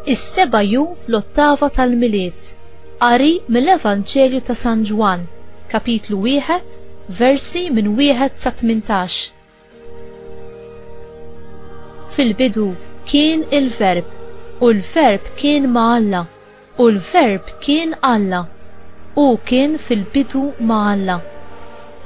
Is-seba' jum fl-ottava tal-Milied. Qari mill-Evanġelju ta' San Ġwann, kapitlu wieħed, versi minn wieħed sa 18. Fil-bidu kien il-Verb, u l-Verb kien ma' Alla, u l-Verb kien Alla. Hu kien fil-bidu ma' Alla.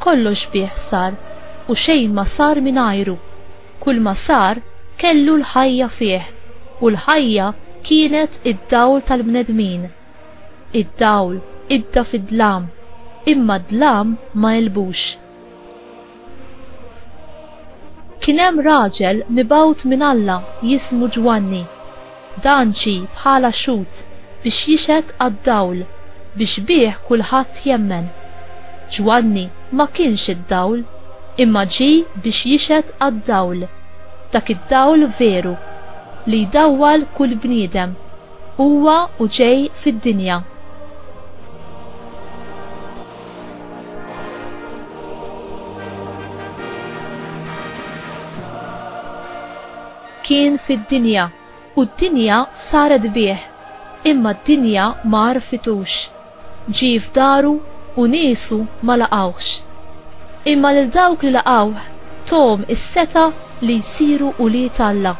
Kollox bih sar, u xejn ma sar mingħajru. Kulma sar kellu l-ħajja fih, u l-ħajja kienet id-dawl tal-bnedmin. Id-dawl idda fid-dlam, imma d-dlam ma għelbux. Kien hemm raġel mibgħut minn Alla jismu Ġwanni. Dan ġie bħala xhud biex jixhed għad-dawl biex bih kulħadd jemmen. Ġwanni ma kienx id-dawl, imma ġie biex jixhed għad-dawl, dak id-dawl veru, li jdawwal kull bniedem, huwa u ġej fid-dinja. Kien fid-dinja, u d-dinja saret bih, imma d-dinja ma għarfitux. Ġie f'daru, u niesu ma laqgħuhx. Imma lil dawk li laqgħuh, tuhom is-setgħa li jsiru ulied Alla,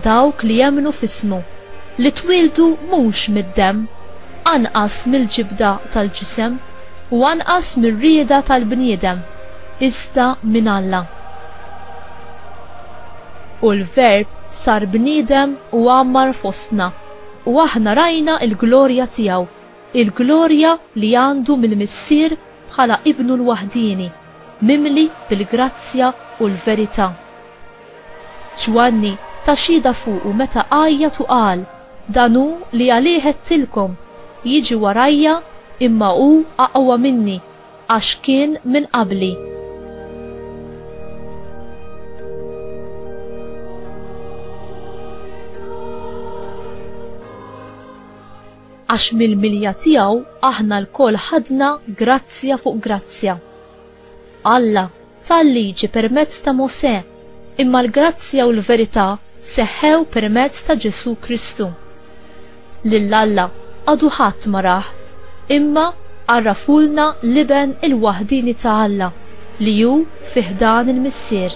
dawk li jemmnu f'ismu, li twieldu mhux mid-demm, anqas mill-ġibda tal-ġisem u anqas mir-rieda tal-bniedem, iżda minn Alla. U l-Verb sar bniedem u għammar fostna, u aħna rajna l-glorja tiegħu, il-glorja li għandu mill-Missier bħala Ibnu l-waħdieni, mimli bil-grazzja u l-verità. Ġwanni ta xhieda fuqu meta għajjat u qal, Dan hu li għalih għedtilkom, Jiġi warajja, imma hu aqwa minni, għax kien minn qabli. Għax mill-milja tiegħu aħna lkoll ħadna grazzja fuq grazzja. Alla ta l-Liġi permezz ta' Mosè, imma l-grazzja u l-verità seħħew permezz ta' Ġesù Kristu. Lil Alla għadu ħadd ma rah, imma għarrafulna l-Iben il-waħdieni ta' Alla li hu fi ħdan il-Missier.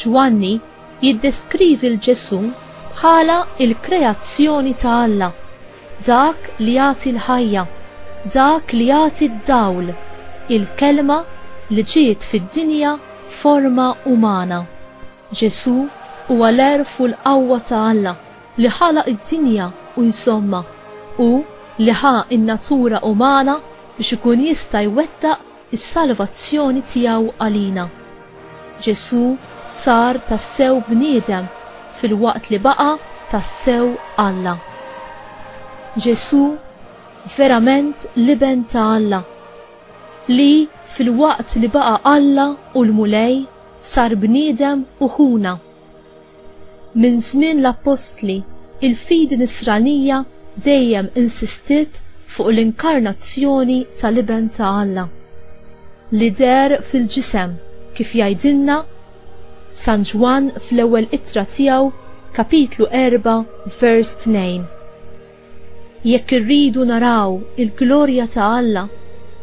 Ġwanni jiddeskrivi 'l Ġesù bħala l-kreazzjoni ta' Alla, dak li jagħti l-ħajja, dak li jagħti d-dawl, il-Kelma li ġiet fid-dinja f'forma umana. Ġesù huwa l-għerf u l-qawwa ta' Alla li ħalaq id-dinja u jżommha, hu li ħa n-natura umana biex ikun jista' jwettaq is-salvazzjoni tiegħu għalina. Ġesù sar tassew bniedem filwaqt li baqa' tassew Alla. Ġesù verament l-Iben ta' Alla, li filwaqt li baqa' Alla u l-Mulej sar bniedem u ħuna. Minn żmien l-appostli, il-fidi Nisranija dejjem insistiet fuq l-inkarnazzjoni tal-Iben ta' Alla, li deher fil-ġisem, kif jgħidilna San Ġwann fl-Ewwel Ittra tiegħu, kapitlu 4, vers 2. Jekk irridu naraw il-glorja ta' Alla,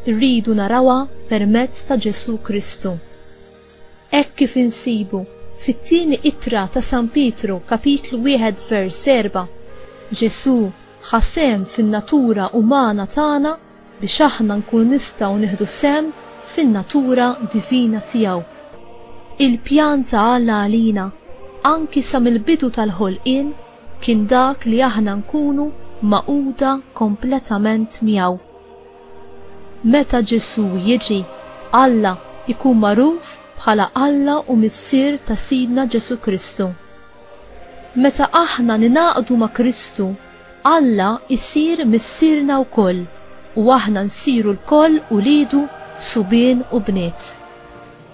irridu narawha permezz ta' Ġesù Kristu. hekk kif insibu fit-Tieni Ittra ta' San Pietru, Kapitlu wieħed vers erba', Ġesù ħa sehem fin-natura umana tagħna biex aħna nkunu nistgħu nieħdu sehem fin-natura divina tiegħu. Il-pjan ta' Alla għalina, anki sa mill-bidu tal-ħolqien, kien dak li aħna nkunu magħquda kompletament miegħu. Meta Ġesù jiġi, Alla jkun magħruf bħala Alla u Missier ta' Sidna Ġesù Kristu. Meta aħna ningħaqdu ma' Kristu, Alla jsir Missierna wkoll u aħna nsiru lkoll uliedu subien u bniet.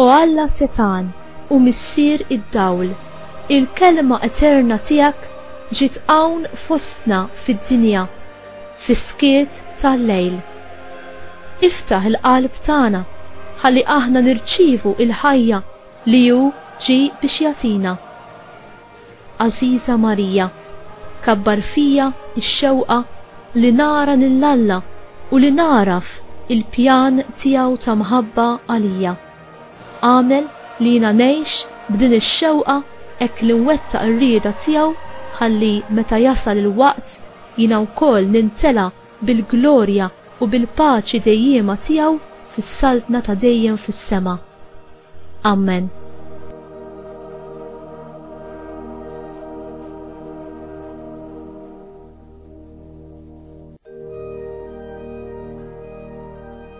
O Alla setgħan u Missier id-dawl, il-Kelma eterna tiegħek ġiet hawn fostna fid-dinja fis-skiet tal-lejl. Iftaħ il-qalb tagħna ħalli aħna nirċievu l-ħajja li hu ġie biex jagħtina. Għażiża Marija, kabbar fija x-xewqa li nara lil Alla u li nagħraf il-pjan tiegħu ta' mħabba għalija. Agħmel li jiena ngħix b'din ix-xewqa hekk li nwettaq ir-rieda tiegħu ħalli meta jasal il-waqt jiena wkoll nintela' bil-glorja u bil-paċi dejjiema tiegħu fis-saltna ta' dejjem fis-sema. Ammen.